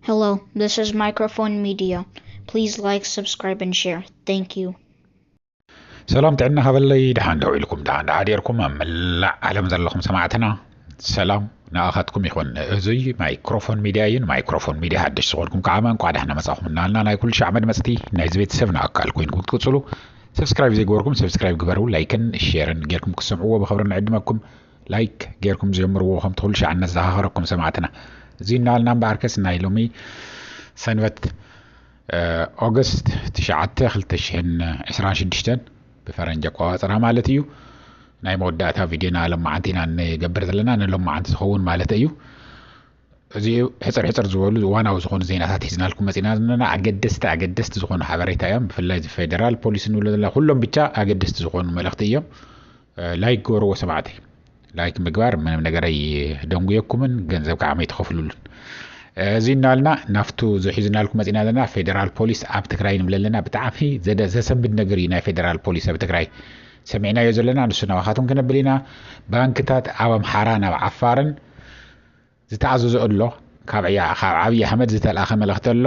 Hello, this is Microphone Media. Please like, subscribe, and share. Thank you. ሰላም ጥዕና ሃበለይ ድሓን ደው ኢልኩም ድሓን ድሓዲርኩም ኣብ መላእ ዓለም ዘለኹም ሰማዕትና ሰላም ንኣኻትኩም ይኹን እዙይ ማይክሮፎን ሚድያ እዩ ንማይክሮፎን ሚድያ ሓደሽ ዝኾንኩም ከዓ እንኳዕ ዳሕና መፃኹም እናልና ናይ ኩሉ ሻዕ መድመፅቲ ናይዚ ቤተሰብ ንኣካል ኮይንኩም ክትቅፅሉ ሰብስክራይብ ዘይገበርኩም ሰብስክራይብ ግበሩ ላይክን ሼርን ጌርኩም ክሰምዕዎ ብክብሪ ንዕድመኩም ላይክ ጌርኩም ጀምርዎ ከም ትክሉ ሻዕ ነዘኻኽረኩም ሰማዕትና እዚ እናበልና እምበኣርከስ ናይ ሎሚ ሰንበት ኦገስት ትሽዓተ ክልተ ሽሕን ዕስራን ሽዱሽተን ብፈረንጂ ኣቆፃፅራ ማለት እዩ ናይ መወዳእታ ቪድዮና ሎመዓንቲ ኢና ንገብር ዘለና ንሎመዓንቲ ዝኸውን ማለት እዩ እዚ ሕፅር ሕፅር ዝበሉ ዋናዊ ዝኾኑ ዜናታት ሒዝናልኩም መፂና ዘለና ኣገደስቲ ኣገደስቲ ዝኾኑ ሓበሬታ እዮም ብፍላይ እዚ ፌደራል ፖሊስ ንብሎ ዘለና ኩሎም ብቻ ኣገደስቲ ዝኾኑ መልእኽቲ እዮም ላይክ ግበርዎ ሰማዕተይ ላይክ ምግባር ምንም ነገር ኣይደንጉየኩምን ገንዘብ ከዓ መይትኸፍሉሉን እዚ እናልና ናብቱ ዝሒዝናልኩ መፂና ዘለና ፌደራል ፖሊስ ኣብ ትግራይ ንብለ ኣለና ብጣዕሚ ዘሰንብድ ነገር እዩ ናይ ፌደራል ፖሊስ ኣብ ትግራይ ሰሚዕናዮ ዘለና ንሱ ናባኻትኩም ክነብል ኢና ባንክታት ኣብ ኣምሓራ ናብ ዓፋርን ዝተኣዘዞ እሎ ካብ ዓብይ ኣሕመድ ዝተልኣኸ መልእኽቲ ኣሎ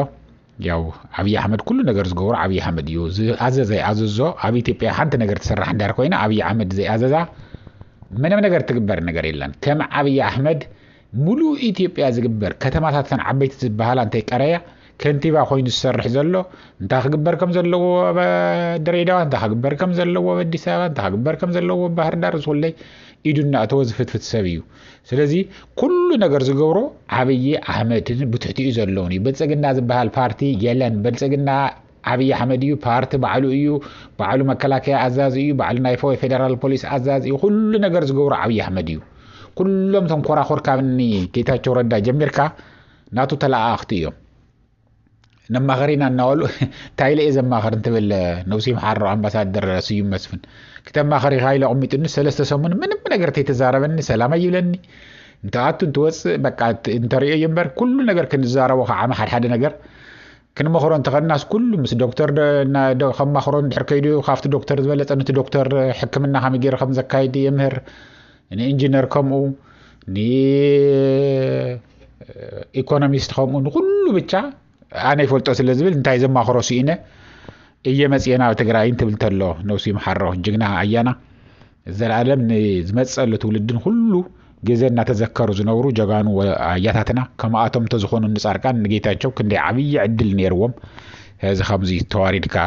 ያው ዓብይ ኣሕመድ ኩሉ ነገር ዝገብሮ ዓብይ ኣሕመድ እዩ ዝኣዘዘ ይኣዘዞ ኣብ ኢትዮጵያ ሓንቲ ነገር ትስራሕ እንዳር ኮይና ዓብይ ኣሕመድ ዘይኣዘዛ ምንም ነገር ትግበር ነገር የለን ከም ዓብይ ኣሕመድ ሙሉእ ኢትዮጵያ ዝግበር ከተማታተን ዓበይቲ ዝበሃላ እንተይቀረያ ከንቲባ ኮይኑ ዝሰርሕ ዘሎ እንታይ ክግበር ከም ዘለዎ ኣብ ድሬዳዋ እንታይ ክግበር ከም ዘለዎ ኣብ ኣዲስ ኣበባ እንታይ ክግበር ከም ዘለዎ ባህርዳር ዝኩለይ ኢዱ እናእተወ ዝፍትፍት ሰብ እዩ ስለዚ ኩሉ ነገር ዝገብሮ ዓብዪ ኣሕመድን ብትሕቲኡ ዘለውን እዩ ብልፅግና ዝበሃል ፓርቲ የለን ብልፅግና ዓብዪ ኣሕመድ እዩ ፓርቲ ባዕሉ እዩ ባዕሉ መከላከያ ኣዛዚ እዩ ባዕሉ ናይ ፈወይ ፌደራል ፖሊስ ኣዛዚ እዩ ኩሉ ነገር ዝገብሮ ዓብዪ ኣሕመድ እዩ ኩሎም ተንኮራኮር ካብኒ ጌታቸው ረዳ ጀሚርካ ናቱ ተለኣኣኽቲ እዮም ነማኸሪና እናበሉ እንታይ ኢለ እየ ዘማኸር እንትብል ነብሱ ይምሓሮ ኣምባሳደር ስዩም መስፍን ክተማኸሪ ኢኻ ኢሉ ኣቕሚጡኒ ሰለስተ ሰሙን ምንም ነገር ተይተዛረበኒ ሰላም ኣይብለኒ እንትኣቱ እንትወፅእ በቃ እንተሪኦ እዩ እምበር ኩሉ ነገር ክንዛረቦ ከዓ ሓድሓደ ነገር ክንመኽሮ እንተኸናስ ኩሉ ምስ ዶክተር ከማኽሮ ድሕር ከይዱ ካብቲ ዶክተር ዝበለፀ ነቲ ዶክተር ሕክምና ከመይ ገይሩ ከም ዘካይድ የምህር ንኢንጂነር ከምኡ ንኢኮኖሚስት ከምኡ ንኩሉ ብቻ ኣነ ይፈልጦ ስለ ዝብል እንታይ ዘማኽሮ ስኢነ እየ መፅኤ ናብ ትግራይ እንትብል ተሎ ነብሱ ይምሓሮ ጅግና ኣያና ዘላለም ንዝመፀሉ ትውልድን ኩሉ ግዜ እናተዘከሩ ዝነብሩ ጀጋኑ ኣያታትና ከምኣቶም እንተዝኾኑ ንፃርቃን ንጌታቸው ክንደይ ዓብዪ ዕድል ነይርዎም እዚ ከምዚ ተዋሪድካ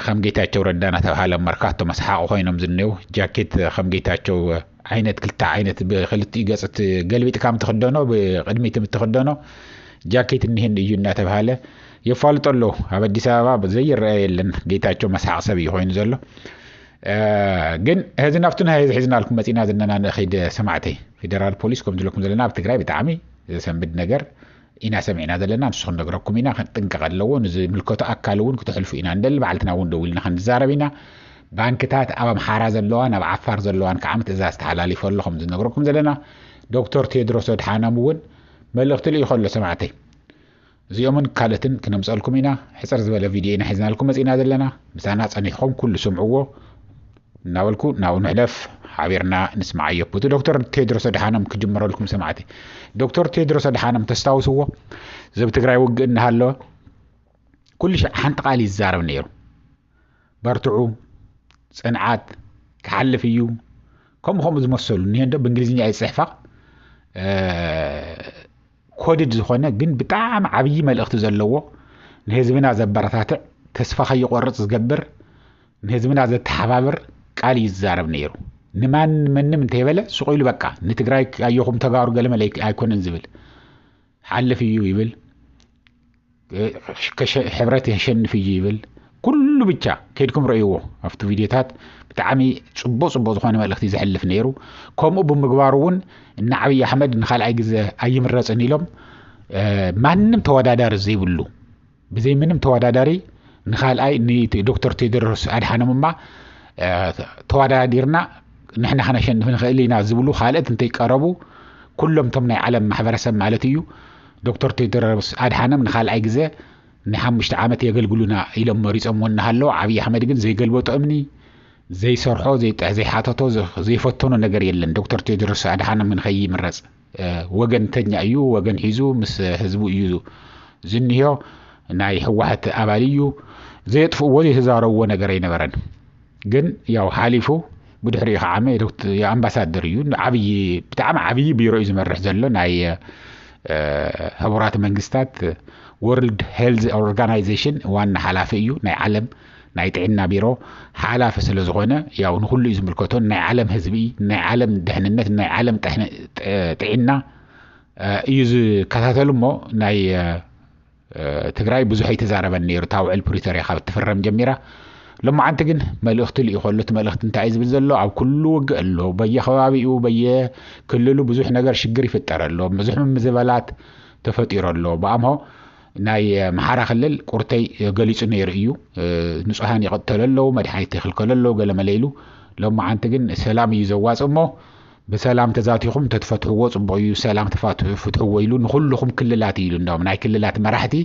ኸም ጌታቸው ረዳ ናተብሃለ መርካቶ መስሓቂ ኮይኖም ዝኔው ጃኬት ኸም ጌታቸው ዓይነት ክልተ ዓይነት ብክልቲኡ ገፅ ገልቢጥካ ምትክደኖ ብቅድሚት ምትክደኖ ጃኬት እኒህን እዩ እናተብሃለ የፋልጦ ኣለዉ ኣብ ኣዲስ ኣበባ ዘይረአ የለን ጌታቸው መስሓቂ ሰብ እዩ ኮይኑ ዘሎ ግን ህዚ ናብቲ ናይ ህዚ ሒዝናልኩም መፂና ዘለና ንኺድ ሰማዕተይ ፌደራል ፖሊስ ከም ዝለኩም ዘለና ኣብ ትግራይ ብጣዕሚ ዘሰንብድ ነገር ኢና ሰሚዕና ዘለና ንሱ ክንነግረኩም ኢና ክንጥንቀቀ ኣለዎ ንዝምልከቶ ኣካል እውን ክተሕልፉ ኢና ንደሊ ባዕልትና እውን ደዊልና ክንዛረብ ኢና ባንክታት ኣብ ኣምሓራ ዘለዋን ኣብ ዓፋር ዘለዋን ከዓ ምትእዛዝ ተሓላሊፎ ኣሎ ከም ዝነግረኩም ዘለና ዶክተር ቴድሮስ ኣድሓኖም እውን መልእኽቲ ልኢኹ ኣሎ ሰማዕተይ እዚኦምን ካልእትን ክነምፀልኩም ኢና ሕፅር ዝበለ ቪድዮ ኢና ሒዝናልኩም መፂና ዘለና ምሳና ፀኒሕኹም ኩሉ ስምዕዎ እናበልኩ ናብኡ ንሕለፍ ሓቢርና ንስምዓዮ። ብቱ ዶክተር ቴድሮስ ኣድሓኖም ክጅምረልኩም ሰማዕቲ። ዶክተር ቴድሮስ ኣድሓኖም ተስታውስዎ ዘብ ትግራይ ውግእ እናሃለወ ኩሉ ሻዕ ሓንቲ ቃል ይዛረብ ነይሩ። በርትዑ፣ ፅንዓት፣ ክሓልፍ እዩ ከምኡ ከምኡ ዝመሰሉ እኒሄ እንዶ ብእንግሊዝኛ እየ ዝፅሕፋ ኮድድ ዝኾነ ግን ብጣዕሚ ዓብዪ መልእኽቲ ዘለዎ ንህዝብና ዘበረታትዕ ተስፋ ከይቆርፅ ዝገብር ንህዝብና ዘተሓባብር ቃል እዩ ዝዛረብ ነይሩ ንማን መንም እንተይበለ ሱቕ ኢሉ በቃ ንትግራይ ኣየኹም ተጋሩ ገለመለ ኣይኮነን ዝብል ሓልፍ እዩ ይብል ሕብረት የሸንፍ እዩ ይብል ኩሉ ብቻ ከድኩም ረእይዎ ኣብቲ ቪድዮታት ብጣዕሚ ፅቡቅ ፅቡቅ ዝኾነ መልእክቲ ዘሕልፍ ነይሩ ከምኡ ብምግባሩ እውን እና ዓብይ ኣሕመድ ንካልኣይ ግዘ ኣይምረፅን ኢሎም ማንም ተወዳዳሪ ዘይብሉ ብዘይ ምንም ተወዳዳሪ ንካልኣይ ንዶክተር ቴድሮስ ኣድሓኖም እማ ተወዳዲርና ንሕና ከነሸንፍ ንኽእል ኢና ዝብሉ ካልኦት እንተይቀረቡ ኩሎም እቶም ናይ ዓለም ማሕበረሰብ ማለት እዩ ዶክተር ቴድሮስ ኣድሓኖም ንኻልኣይ ግዘ ንሓሙሽተ ዓመት የገልግሉና ኢሎም መሪፆምዎ እናሃለዉ ዓብዪ ኣሕመድ ግን ዘይገልበጦ እምኒ፣ ዘይሰርሖ፣ ዘይሓተቶ፣ ዘይፈተኖ ነገር የለን። ዶክተር ቴድሮስ ኣድሓኖም ንከይምረፅ ወገንተኛ እዩ፣ ወገን ሒዙ ምስ ህዝቡ እዩ ዝኒሆ፣ ናይ ህወሓት ኣባል እዩ፣ ዘየጥፍእዎ ዘይተዛረብዎ ነገር ኣይነበረን። ግን ያው ሓሊፉ ብድሕሪኡ ከዓመ ኣምባሳደር እዩ ዓብዪ ብጣዕሚ ዓብዪ ቢሮ እዩ ዝመርሕ ዘሎ ናይ ሕቡራት መንግስታት ወርልድ ሄልዝ ኦርጋናይዜሽን ዋና ሓላፊ እዩ ናይ ዓለም ናይ ጥዕና ቢሮ ሓላፊ ስለ ዝኾነ ያው ንኩሉ እዩ ዝምልከቶ ናይ ዓለም ህዝቢ ናይ ዓለም ድሕንነት ናይ ዓለም ጥዕና እዩ ዝከታተሉ እሞ ናይ ትግራይ ብዙሕ ኣይተዛረበን ነይሩ እታ ውዕል ፕሪቶርያ ካብ እትፍረም ጀሚራ ሎማዓንቲ ግን መልእኽቲ ልኢኾ ኣሎ እቲ መልእኽቲ እንታይ እዩ ዝብል ዘሎ ኣብ ኩሉ ውግእ ኣሎ በየከባቢኡ በየክልሉ ብዙሕ ነገር ሽግር ይፍጠር ኣሎ ብዙሕ ምምዝበላት ተፈጢሩ ኣሎ ብኣምሆ ናይ መሓራ ክልል ቁርተይ ገሊፁ ነይሩ እዩ ንፁሃን ይቐተሉ ኣለዉ መድሓኒት ይኽልከሉ ኣለዉ ገለመለ ኢሉ ሎማዓንቲ ግን ሰላም እዩ ዘዋፅ እሞ ብሰላም ተዛቲኹም ተትፈትሕዎ ጽቡቕ እዩ ሰላም ተፋትሑ ፍትሕዎ ኢሉ ንኹልኹም ክልላት እዩ ኢሉ እንዳውም ናይ ክልላት መራሕቲ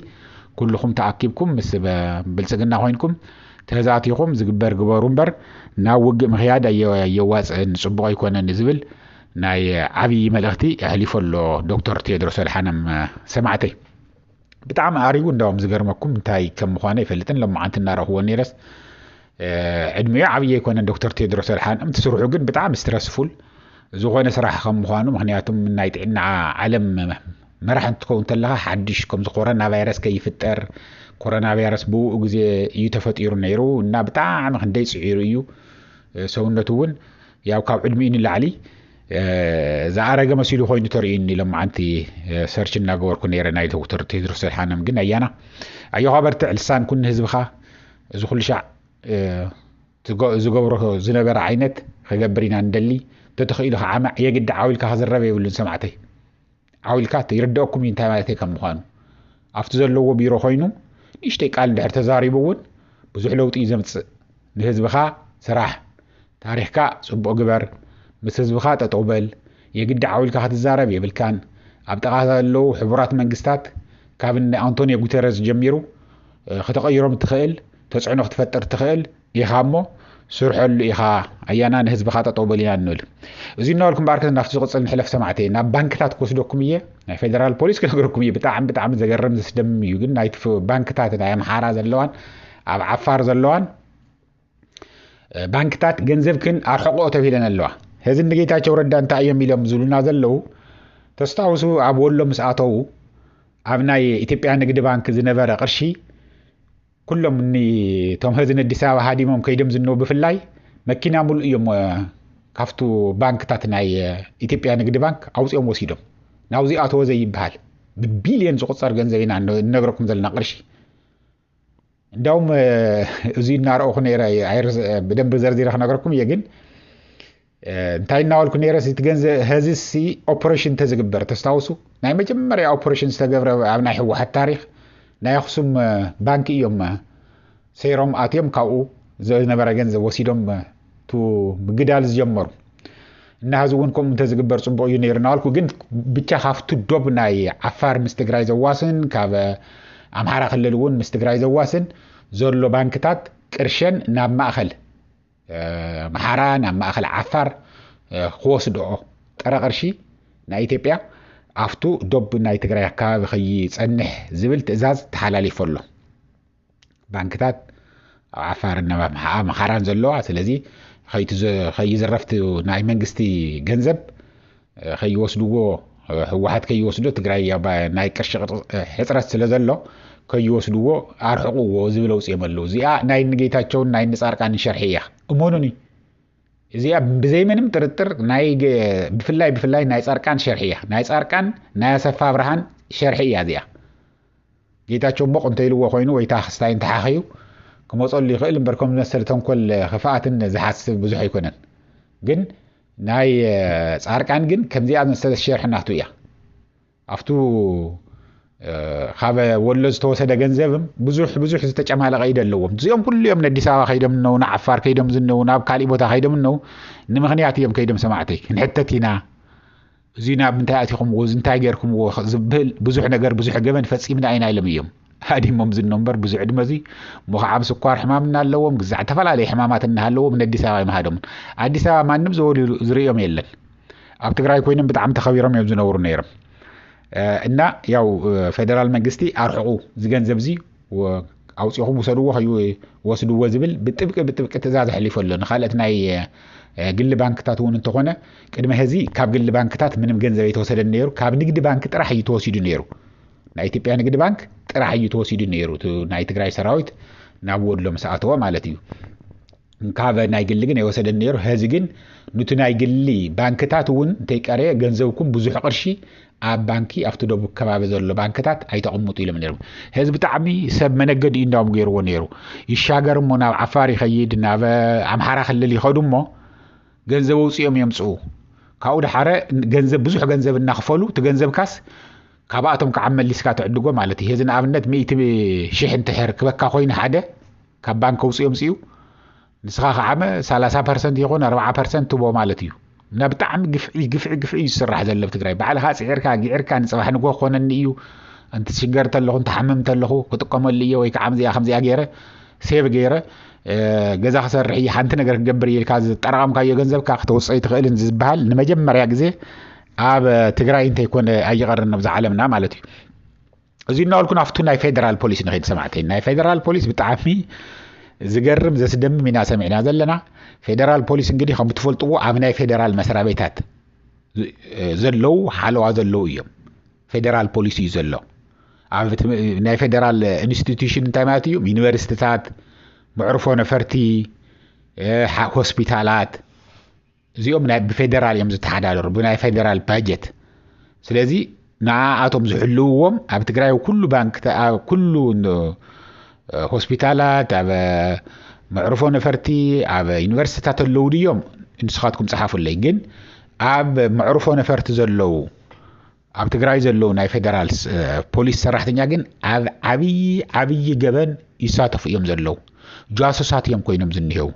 ኩልኹም ተኣኪብኩም ምስ ብልጽግና ኮይንኩም ተዛቲኹም ዝግበር ግበሩ እምበር ናብ ውግእ ምክያድ ኣየዋጽእን ጽቡቕ ኣይኮነን ዝብል ናይ ዓብዪ መልእኽቲ ኣሕሊፎ ኣሎ ዶክተር ቴድሮስ ኣድሓኖም ሰማዕተይ ብጣዕሚ ኣሪጉ እንዳውም ዝገርመኩም እንታይ ከም ምዃነ ኣይፈልጥን ሎማዓንቲ እናረኽዎ ነይረስ ዕድሚኡ ዓብዪ ኣይኮነን ዶክተር ቴድሮስ ኣድሓኖም እቲ ስርሑ ግን ብጣዕሚ ስትረስፉል ዝኾነ ስራሕ ከም ምዃኑ ምክንያቱም ናይ ጥዕና ዓለም መራሕ እንትትከውን ከለኻ ሓድሽ ከምዚ ኮሮና ቫይረስ ከይፍጠር ኮሮና ቫይረስ ብኡ ግዜ እዩ ተፈጢሩ ነይሩ እና ብጣዕሚ ክንደይ ፅዒሩ እዩ ሰውነቱ እውን ያው ካብ ዕድሚኡ ንላዕሊ ዝኣረገ መሲሉ ኮይኑ ተርእዩኒ ሎማዓንቲ ሰርች እናገበርኩ ነረ ናይ ዶክተር ቴድሮስ ኣድሓኖም ግን ኣያና ኣዮኻ በርትዕ ልሳን ኩን ህዝብኻ እዚ ኩሉ ሻዕ ዝገብሮ ዝነበረ ዓይነት ክገብር ኢና ንደሊ ተተኽኢሉ ከዓመዕ የግዲ ዓው ኢልካ ክዝረብ የብሉን ሰማዕተይ ዓውኢልካ እተ ይርደኣኩም እዩ እንታይ ማለት ከም ምዃኑ ኣብቲ ዘለዎ ቢሮ ኮይኑ ንእሽተይ ቃል እንድሕር ተዛሪቡ እውን ብዙሕ ለውጢ እዩ ዘምፅእ ንህዝብኻ ስራሕ ታሪኽካ ፅቡቕ ግበር ምስ ህዝብኻ ጠጠው በል የግዲ ዓውኢልካ ክትዛረብ የብልካን ኣብ ጠቓ ዘለዉ ሕቡራት መንግስታት ካብ እነ ኣንቶኒዮ ጉተረዝ ጀሚሩ ከተቐይሮም እትኽእል ተፅዕኖ ክትፈጥር እትኽእል ኢኻ እሞ ስርሐሉ ኢኻ ኣያና ንህዝብኻ ጠጠው በል ኢና ንብል እዚ እናበልኩ እምበኣር ከ ናብቲ ዝቕፅል ንሕለፍ ሰማዕተይ ናብ ባንክታት ክወስደኩም እየ ናይ ፌደራል ፖሊስ ክነግረኩም እየ ብጣዕሚ ብጣዕሚ ዘገርም ዘስደምም እዩ ግን ናይቲ ባንክታት ናይ ኣምሓራ ዘለዋን ኣብ ዓፋር ዘለዋን ባንክታት ገንዘብክን ኣርሕቆ ተብሂለን ኣለዋ ሕዚ ንጌታቸው ረዳ እንታይ እዮም ኢሎም ዝብሉና ዘለዉ ተስታውሱ ኣብ ወሎ ምስ ኣተዉ ኣብ ናይ ኢትዮጵያ ንግዲ ባንክ ዝነበረ ቅርሺ ኩሎም እኒ እቶም ህዚ ነዲስ ኣበባ ሃዲሞም ከይዶም ዝነው ብፍላይ መኪና ሙሉእ እዮም ካብቱ ባንክታት ናይ ኢትዮጵያ ንግዲ ባንክ ኣውፅኦም ወሲዶም ናብዚ ኣተወ ዘይበሃል ብቢልዮን ዝቁፀር ገንዘብ ኢና እነግረኩም ዘለና ቅርሺ እንዳውም እዚ እናረእኹ ነይረ ብደንብ ዘርዚረ ክነገርኩም እየ ግን እንታይ እናበልኩ ነረስ እቲ ገንዘ ሀዚሲ ኦፐሬሽን ተዝግበር ተስታውሱ ናይ መጀመርያ ኦፐሬሽን ዝተገብረ ኣብ ናይ ህወሓት ታሪክ ናይ ኣክሱም ባንኪ እዮም ሰይሮም ኣትዮም ካብኡ ዝነበረ ገንዘብ ወሲዶም ቱ ምግዳል ዝጀመሩ እና ህዚ እውን ከምኡ እንተዝግበር ፅቡቅ እዩ ነይሩ እናበልኩ ግን ብቻ ካብቲ ዶብ ናይ ዓፋር ምስ ትግራይ ዘዋስን ካብ ኣምሓራ ክልል እውን ምስ ትግራይ ዘዋስን ዘሎ ባንክታት ቅርሸን ናብ ማእኸል ኣምሓራ ናብ ማእኸል ዓፋር ክወስድኦ ጥረ ቅርሺ ናይ ኢትዮጵያ ኣብቱ ዶብ ናይ ትግራይ ኣካባቢ ከይፀንሕ ዝብል ትእዛዝ ተሓላሊፎ ኣሎ ባንክታት ኣብ ዓፋርን ናብ ኣምሓራን ዘለዋ ስለዚ ከይዝረፍቲ ናይ መንግስቲ ገንዘብ ከይወስድዎ ህወሓት ከይወስዶ ትግራይ ኣባ ናይ ቅርሺ ሕፅረት ስለ ዘሎ ከይወስድዎ ኣርሕቕዎ ዝብል ኣውፅኦም ኣለዉ እዚኣ ናይ ንጌታቸውን ናይ ንፃርቃንን ሸርሒ እያ እመኑኒ እዚኣ ብዘይምንም ጥርጥር ናይ ብፍላይ ብፍላይ ናይ ፃርቃን ሸርሒ እያ ናይ ፃርቃን ናይ ኣሰፋ ኣብርሃን ሸርሒ እያ እዚኣ ጌታቸው ሞቕ እንተኢልዎ ኮይኑ ወይ ታክስታይ እንተሓኸዩ ክመፀሉ ይኽእል እምበር ከም ዝመሰለ ተንኮል ክፍኣትን ዝሓስብ ብዙሕ ኣይኮነን ግን ናይ ጻርቃን ግን ከምዚኣ ዝመሰለ ሸርሒ ናቱ እያ ኣብቱ ካብ ወሎ ዝተወሰደ ገንዘብም ብዙሕ ብዙሕ ዝተጨማለቐ ኢደ ኣለዎም እዚኦም ኩሉ እዮም ነዲስ ኣበባ ከይዶም እነው ንዓፋር ከይዶም ዝነው ናብ ካሊእ ቦታ ከይዶም እነው ንምክንያት እዮም ከይዶም ሰማዕተይ ክንሕተት ኢና እዙይ ናብ ምንታይ ኣቲኹምዎ እንታይ ጌርኩምዎ ዝብል ብዙሕ ነገር ብዙሕ ገበን ፈጺምና ኢና ኢሎም እዮም ሃዲሞም ዝኖ እምበር ብዙ ዕድመ እዙ ሞኽዓም ስኳር ሕማም እናለዎም ግዛዕ እተፈላለየ ሕማማት እናሃለዎም ንኣዲስ ኣበባ ይምሃዶምን ኣዲስ ኣበባ ማንም ዘወልዩ ዝርእዮም የለን ኣብ ትግራይ ኮይኖም ብጣዕሚ ተኸቢሮም እዮም ዝነብሩ ነይሮም እና ያው ፌደራል መንግስቲ ኣርሕቑ ዝገንዘብ እዙ ኣውፂኹም ውሰድዎ ከይወስድዎ ዝብል ብጥብቂ ብጥብቂ ትእዛዝ ኣሕሊፉ ኣሎ ንካልኦት ናይ ግሊ ባንክታት እውን እንተኾነ ቅድሚ ሕዚ ካብ ግሊ ባንክታት ምንም ገንዘብ ኣይተወሰደን ነይሩ ካብ ንግዲ ባንኪ ጥራሕ እዩ ተወሲዱ ነይሩ ናይ ኢትዮጵያ ንግዲ ባንክ ጥራሕ እዩ ተወሲዱ ነይሩ ናይ ትግራይ ሰራዊት ናብ ወሎ ምስ ኣተወ ማለት እዩ እንካበ ናይ ግሊ ግን ኣይወሰደን ነይሩ ሀዚ ግን ኑቲ ናይ ግሊ ባንክታት እውን እንተይቀረየ ገንዘብኩም ብዙሕ ቅርሺ ኣብ ባንኪ ኣብቲ ደቡብ ከባቢ ዘሎ ባንክታት ኣይተቕምጡ ኢሎም ነይሮም ሀዚ ብጣዕሚ ሰብ መነገዲ እዩ እንዳውም ገይርዎ ነይሩ ይሻገር እሞ ናብ ዓፋር ይኸይድ ናብ ኣምሓራ ክልል ይኸዱ እሞ ገንዘብ ውፅኦም የምፅኡ ካብኡ ድሓረ ገንዘብ ብዙሕ ገንዘብ እናኽፈሉ እቲ ገንዘብካስ ካብኣቶም ከዓ መሊስካ ትዕድጎ ማለት እዩ ሄዚ ንኣብነት ሚእቲ ሽሕ እንትሕር ክበካ ኮይኑ ሓደ ካብ ባንክ ከውፅእ የምፅኡ ንስኻ ከዓመ ሰላሳ ፐርሰንት ይኹን ኣርባዓ ፐርሰንት ትቦ ማለት እዩ እና ብጣዕሚ ግፍዒ ግፍዒ ግፍዒ እዩ ዝስራሕ ዘሎ ኣብ ትግራይ ባዕልኻ ፅዒርካ ጊዕርካ ንፅባሕ ንጎ ክኾነኒ እዩ እንትሽገር ተለኹ እንትሓምም ተለኹ ክጥቀመሉ እየ ወይ ከዓ ከምዚኣ ከምዚኣ ገይረ ሴቭ ገይረ ገዛ ክሰርሕ እየ ሓንቲ ነገር ክገብር እየ ኢልካ ዝጠራቐምካዮ ገንዘብካ ክተውፅኦ ይትኽእልን ዝበሃል ንመጀመርያ ግዜ ኣብ ትግራይ እንተይኮነ ኣይቐርን ኣብዚ ዓለምና ማለት እዩ እዚ እናበልኩ ናብቲ ናይ ፌደራል ፖሊስ ንኸይድ ሰማዕተይ ናይ ፌደራል ፖሊስ ብጣዕሚ ዝገርም ዘስደምም ኢና ሰሚዕና ዘለና ፌደራል ፖሊስ እንግዲህ ከም ትፈልጥዎ ኣብ ናይ ፌደራል መስሪያ ቤታት ዘለው ሓለዋ ዘለው እዮም ፌደራል ፖሊስ እዩ ዘሎ ኣብ ናይ ፌደራል ኢንስቲትዩሽን እንታይ ማለት እዩ ዩኒቨርሲቲታት መዕርፎ ነፈርቲ ሆስፒታላት እዚኦም ናይ ብፌደራል እዮም ዝተሓዳደሩ ብናይ ፌደራል ባጀት ስለዚ ንኣቶም ዝሕልውዎም ኣብ ትግራይ ኩሉ ባንክ ኩሉ ሆስፒታላት ኣብ መዕርፎ ነፈርቲ ኣብ ዩኒቨርሲቲታት ኣለዉ ድዮም ንስኻትኩም ፀሓፉለይ ግን ኣብ መዕርፎ ነፈርቲ ዘለዉ ኣብ ትግራይ ዘለዉ ናይ ፌደራል ፖሊስ ሰራሕተኛ ግን ኣብ ዓብዪ ዓብዪ ገበን ይሳተፉ እዮም ዘለዉ ጃሱሳት እዮም ኮይኖም ዝኒሄው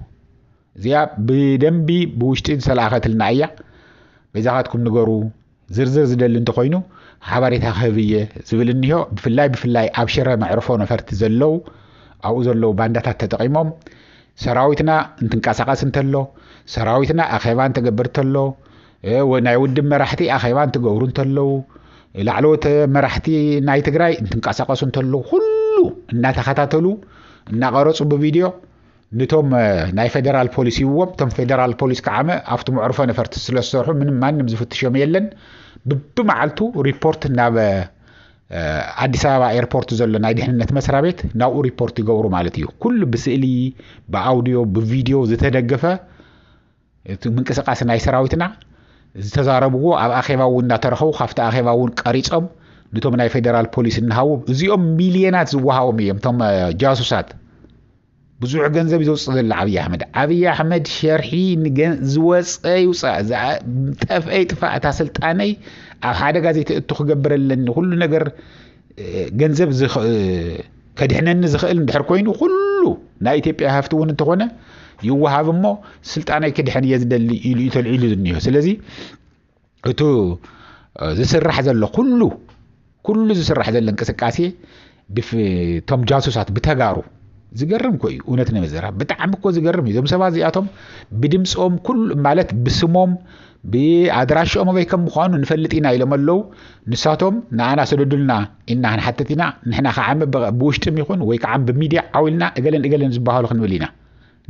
እዚኣ ብደንቢ ብውሽጢ ዝተላእኸትልና እያ በይዛኻትኩም ንገሩ ዝርዝር ዝደሊ እንተኾይኑ ሓበሬታ ክህብ እየ ዝብል እኒሆ ብፍላይ ብፍላይ ኣብ ሽረ መዕርፎ ነፈርቲ ዘለው ኣብኡ ዘለው ባንዳታት ተጠቂሞም ሰራዊትና እንትንቀሳቀስ እንተሎ ሰራዊትና ኣኼባ እንትገብር እንተሎ ናይ ውድብ መራሕቲ ኣኼባ እንትገብሩ እንተለው ላዕለዎት መራሕቲ ናይ ትግራይ እንትንቀሳቀሱ እንተለው ኩሉ እናተኸታተሉ እናቀረፁ ብቪድዮ ንቶም ናይ ፌደራል ፖሊስ ሂብዎም እቶም ፌደራል ፖሊስ ከዓመ ኣብቲ መዕርፎ ነፈርቲ ስለ ዝሰርሑ ምንም ማንም ዝፍትሾም የለን ብብመዓልቱ ሪፖርት ናብ ኣዲስ ኣበባ ኤርፖርት ዘሎ ናይ ድሕንነት መስሪያ ቤት ናብኡ ሪፖርት ይገብሩ ማለት እዩ ኩሉ ብስእሊ ብኣውድዮ ብቪድዮ ዝተደገፈ እቲ ምንቅስቃስ ናይ ሰራዊትና ዝተዛረብዎ ኣብ ኣኼባ እውን እናተረኸቡ ካብቲ ኣኼባ እውን ቀሪፆም ንቶም ናይ ፌደራል ፖሊስ እናሃቡ እዚኦም ሚልዮናት ዝወሃቦም እዮም እቶም ጃሱሳት ብዙሕ ገንዘብ እዩ ዘውፅእ ዘሎ ዓብዪ ኣሕመድ ዓብዪ ኣሕመድ ሸርሒ ዝወፀ ይውፃእ ዝጠፍአ ይጥፋእ እታ ስልጣነይ ኣብ ሓደጋ ዘይተእቱ ክገብር ኣለኒ ኩሉ ነገር ገንዘብ ከድሕነኒ ዝኽእል እንድሕር ኮይኑ ኩሉ ናይ ኢትዮጵያ ሃፍቲ እውን እንተኾነ ይወሃብ እሞ ስልጣነይ ክድሕን እየ ዝደሊ ኢሉ እዩ ተልዒሉ ዝኒሆ ስለዚ እቱ ዝስራሕ ዘሎ ኩሉ ኩሉ ዝስራሕ ዘሎ እንቅስቃሴ ቶም ጃሱሳት ብተጋሩ ዝገርም ኮ እዩ እውነት ነመዘራ ብጣዕሚ እኮ ዝገርም እዩ እዞም ሰባት እዚኣቶም ብድምፆም ኩሉ ማለት ብስሞም ብኣድራሽኦም ኣበይ ከም ምኳኑ ንፈልጥ ኢና ኢሎም ኣለዉ ንሳቶም ንኣና ሰደዱልና ኢና ክንሓትት ኢና ንሕና ከዓ ብውሽጢም ይኹን ወይ ከዓ ብሚድያ ዓው ኢልና እገለን እገለን ዝበሃሉ ክንብል ኢና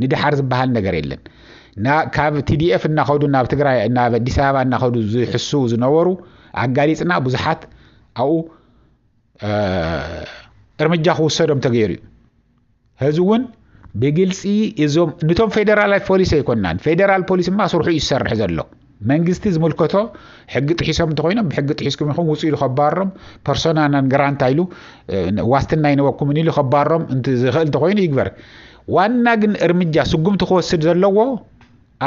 ንድሓር ዝብሃል ነገር የለን ና ካብ ቲዲኤፍ እናኸዱ ናብ ትግራይ ናብ ኣዲስ ኣበባ እናኸዱ ዝሕስው ዝነበሩ ኣጋሊፅና ብዙሓት ኣብኡ እርምጃ ክውሰዶም ተገይሩ እዩ ህዚ እውን ብግልፂ እዞም ንቶም ፌደራላት ፖሊስ ኣይኮናን ፌደራል ፖሊስ ማ ስርሑ እዩ ዝሰርሕ ዘሎ መንግስቲ ዝምልከቶ ሕጊ ጥሒሶም እንተኾይኖም ብሕጊ ጥሒስኩም ኢኹም ውፁ ኢሉ ከባሮም ፐርሶና ናን ገራንታ ኢሉ ዋስትና ኣይነበኩምን ኢሉ ከባሮም ዝኽእል እንተኾይኑ ይግበር ዋና ግን እርምጃ ስጉምቲ ክወስድ ዘለዎ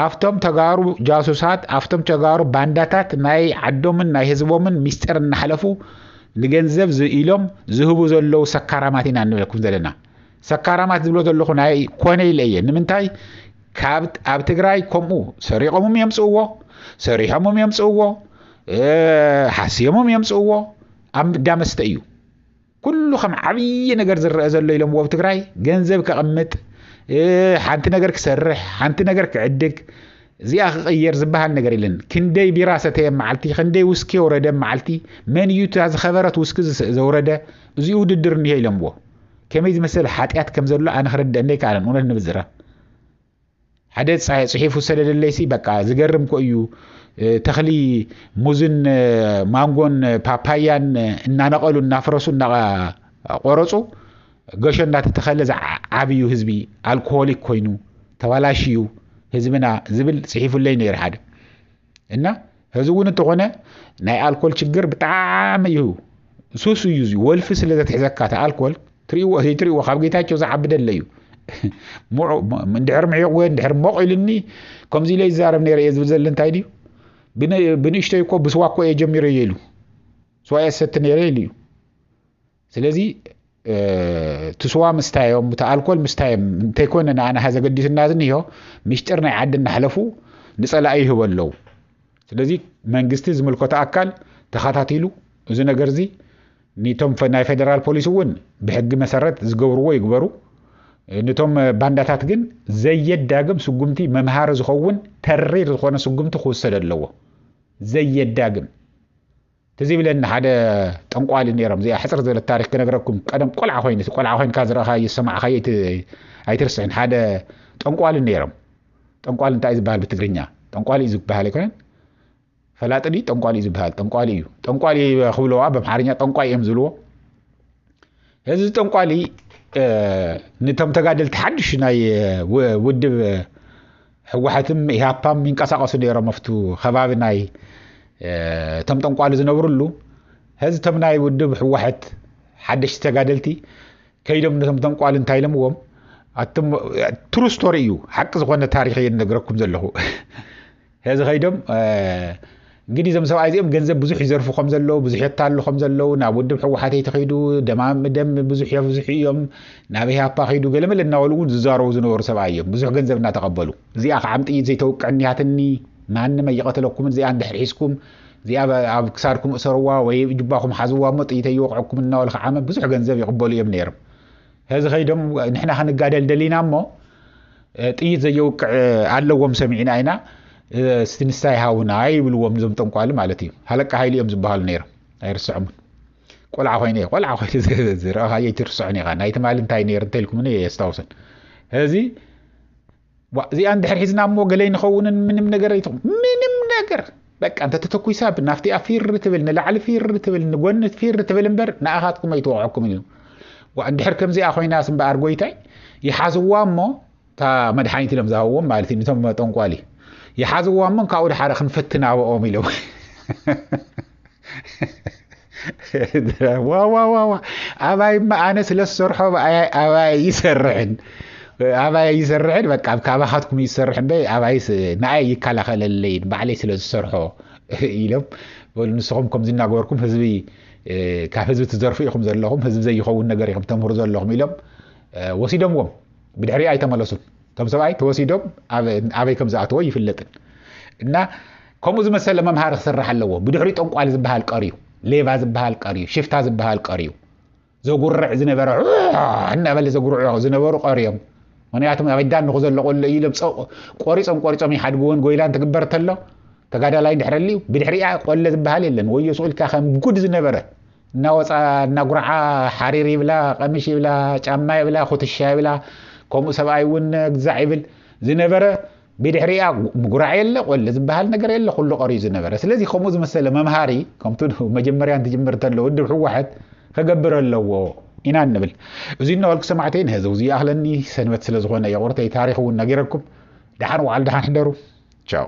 ኣብቶም ተጋሩ ጃሱሳት ኣብቶም ተጋሩ ባንዳታት ናይ ዓዶምን ናይ ህዝቦምን ሚስጢር እናሓለፉ ንገንዘብ ኢሎም ዝህቡ ዘለዉ ሰካራማት ኢና እንብለኩም ዘለና ሰካራማት ዝብሎ ዘለኹ ናይ ኮነ ኢለ እየ ንምንታይ ካብ ኣብ ትግራይ ከምኡ ሰሪቖምም የምፅእዎ ሰሪሖምም የምፅእዎ ሓስዮምም የምፅእዎ ኣብ ዳመስተ እዩ ኩሉ ከም ዓብዪ ነገር ዝረአ ዘሎ ኢሎምዎ ኣብ ትግራይ ገንዘብ ከቕምጥ ሓንቲ ነገር ክሰርሕ ሓንቲ ነገር ክዕድግ እዚኣ ክቕየር ዝበሃል ነገር የለን ክንደይ ቢራ ሰተየ መዓልቲ ክንደይ ውስኪ የውረደ መዓልቲ መን እዩ እታ ዝኸበረት ውስኪ ዘውረደ እዚ ውድድር እኒሀ ኢሎምዎ ከመይ ዝመሰለ ሓጢኣት ከም ዘሎ ኣነ ክርደአኒ ኣይከኣለን እውነት ንምዝራብ ሓደ ፅሒፉ ሰደደለይሲ በቃ ዝገርም ኮ እዩ ተኽሊ ሙዝን ማንጎን ፓፓያን እናነቐሉ እናፍረሱ እናቆረፁ ገሾ እናተተኸለ ዝዓብዩ ህዝቢ ኣልኮሆሊክ ኮይኑ ተባላሽዩ ህዝብና ዝብል ፅሒፉለይ ነይሩ ሓደ እና ህዚ እውን እንተኾነ ናይ ኣልኮል ችግር ብጣዕሚ እዩ ሱስ እዩ እዚ ወልፊ ስለ ዘትሕዘካ እቲ ኣልኮል ትሪእዎ ዘይትሪእዎ ካብ ጌታቸው ዝዓቢ ደለ እዩ እንድሕር ምዒቕ ወይ እንድሕር ሞቕ ኢልኒ ከምዚ ኢለ ይዛረብ ነይረ እየ ዝብል ዘለ እንታይ ድዩ ብንእሽተይ እኮ ብስዋ እኮ እየ ጀሚረ እየ ኢሉ ስዋ እየ ዝሰቲ ነይረ ኢሉ እዩ ስለዚ እቲ ስዋ ምስታዮም እቲ ኣልኮል ምስታዮም እንተይኮነ ንኣናሃ ዘገዲስና ዝኒሆ ሚሽጥር ናይ ዓዲ እናሕለፉ ንፀላኢ ይህበ ኣለዉ ስለዚ መንግስቲ ዝምልከቶ ኣካል ተኸታቲሉ እዚ ነገር እዚ ንቶም ናይ ፌደራል ፖሊስ እውን ብሕጊ መሰረት ዝገብርዎ ይግበሩ ንቶም ባንዳታት ግን ዘየዳግም ስጉምቲ መምሃሪ ዝኸውን ተሪር ዝኾነ ስጉምቲ ክውሰድ ኣለዎ ዘየዳግም ትዝ ይብለኒ ሓደ ጠንቋሊ ነይሮም እዚኣ ሕፅር ዝበለት ታሪክ ክነግረኩም ቀደም ቆልዓ ኮይኑ እቲ ቆልዓ ኮይንካ ዝረእኻዮ ዝሰማዕኻዮ ኣይትርስዕን ሓደ ጠንቋሊ ነይሮም ጠንቋሊ እንታይ እዩ ዝበሃል ብትግርኛ ጠንቋሊ እዩ ዝበሃል ኣይኮነን ፈላጢ ድዩ ጠንቋሊ እዩ ዝበሃል ጠንቋሊ እዩ ጠንቋሊ ክብለዋ በምሓርኛ ጠንቋይ እዮም ዝብልዎ እዚ ጠንቋሊ ነቶም ተጋደልቲ ሓድሽ ናይ ውድብ ህወሓትን ኢህኣፓም ይንቀሳቀሱ ነይሮም ኣብቲ ከባቢ ናይ እቶም ጠንቋሊ ዝነብርሉ ህዚ እቶም ናይ ውድብ ህወሓት ሓደሽቲ ተጋደልቲ ከይዶም ነቶም ጠንቋሊ እንታይ ኢሎምዎም ትሩ ስቶሪ እዩ ሓቂ ዝኮነ ታሪክ እየ ነግረኩም ዘለኹ እዚ ከይዶም እንግዲህ እዞም ሰብኣይ እዚኦም ገንዘብ ብዙሕ ይዘርፉ ከም ዘለዉ ብዙሕ የታሉ ከም ዘለዉ ናብ ውድብ ሕወሓት ይትኺዱ ደም ብዙሕ የብዝሑ እዮም ናብ ኢህኣፓ ኺዱ ገለመለ እናበሉ እውን ዝዛረቡ ዝነበሩ ሰብኣይ እዮም ብዙሕ ገንዘብ እናተቐበሉ እዚኣ ከዓም ጥይት ዘይተውቅዕ እኒሃትኒ ማንም ኣይቐተለኩምን እዚኣ እንድሕር ሒዝኩም እዚኣ ኣብ ክሳድኩም እሰርዋ ወይ ጅባኹም ሓዝዋ እሞ ጥይት ኣይወቕዐኩም እናበሉ ከዓመ ብዙሕ ገንዘብ ይቕበሉ እዮም ነይሮም ሕዚ ከይዶም ንሕና ክንጋደል ደሊና እሞ ጥይት ዘየውቅዕ ኣለዎም ሰሚዕና ኢና እስቲ ንሳ ይሃውና ይብልዎም እዞም ጠንቋሊ ማለት እዩ ሃለቃ ሃይሉ እዮም ዝበሃሉ ነይሮም ኣይርስዖምን ቆልዓ ኮይነ እየ ቆልዓ ኮይኑ ዝረኣኻዮ ኣይትርስዖን ኢኻ ናይ ትማሊ እንታይ ነይሩ እንተልኩምኒ እየ የስታውሰን ሕዚ ዋእ እዚኣ እንድሕር ሒዝና እሞ ገለይ ንኸውንን ምንም ነገር ኣይትኹም ምንም ነገር በቃ እንተተተኩሳ ናፍቲኣ ፊር ትብል ንላዕሊ ፊር ትብል ንጎኒ ፊር ትብል እምበር ንኣኻትኩም ኣይትወቕዐኩም እዩ ዋእ እንድሕር ከምዚኣ ኮይናስ እምበኣር ጎይታይ ይሓዝዋ እሞ እታ መድሓኒት ኢሎም ዝሃብዎም ማለት እዩ ንቶም ጠንቋሊ ይሓዝዋ እሞ ካብኡ ድሓረ ክንፈትናብኦም ኢሎም ዋዋዋዋ ኣባይ እማ ኣነ ስለ ዝሰርሖ ኣባይ ይሰርሕን ኣባይ ይሰርሕን በቃ ካባኻትኩም ይሰርሕ እምበይ ኣባይ ንኣይ ይከላኸለለይን ባዕለይ ስለ ዝሰርሖ ኢሎም በሉ ንስኹም ከምዚ እናገበርኩም ህዝቢ ካብ ህዝቢ ትዘርፉ ኢኹም ዘለኹም ህዝቢ ዘይኸውን ነገር ኢኹም ተምህሩ ዘለኹም ኢሎም ወሲዶምዎም ብድሕሪኣ ኣይተመለሱን እቶም ሰብኣይ ተወሲዶም ኣበይ ከም ዝኣተዎ ይፍለጥን እና ከምኡ ዝመሰለ መምሃሪ ክስራሕ ኣለዎ ብድሕሪ ጠንቋሊ ዝበሃል ቀርዩ ሌባ ዝበሃል ቀርዩ ሽፍታ ዝበሃል ቀርዩ ዘጉርዕ ዝነበረ እናበለ ዘጉርዑ ዝነበሩ ቀርዮም ምክንያቱ ኣበዳ ንኹ ዘለቆሎ እዩ ኢሎም ቆሪፆም ቆሪፆም ይሓድግዎን ጎይላን ትግበር ተሎ ተጋዳላይ ድሕረልዩ ብድሕሪኣ ቆለ ዝበሃል የለን ወዮ ስኡልካ ከም ጉድ ዝነበረ እናወፃ እናጉርዓ ሓሪር ይብላ፣ ቐሚሽ ይብላ፣ ጫማ ይብላ፣ ኩትሻ ይብላ፣ ከምኡ ሰብኣይ እውን ግዛዕ ይብል ዝነበረ ብድሕሪኣ ምጉራዕ የለ ቆለ ዝበሃል ነገር የለ ኩሉ ቀርዩ ዝነበረ ስለዚ ከምኡ ዝመሰለ መምሃሪ ከምቲ መጀመርያ እንትጅምር ተሎ ውድብ ሕወሓት ከገብር ኣለዎ ኢና ንብል እዚ እናበልኩ ሰማዕተይ ንህዚ ውዚ ይኣኽለኒ ሰንበት ስለ ዝኾነ የቑርተይ ታሪክ እውን ነጊረኩም ደሓን ውዓል ደሓን ሕደሩ ቻው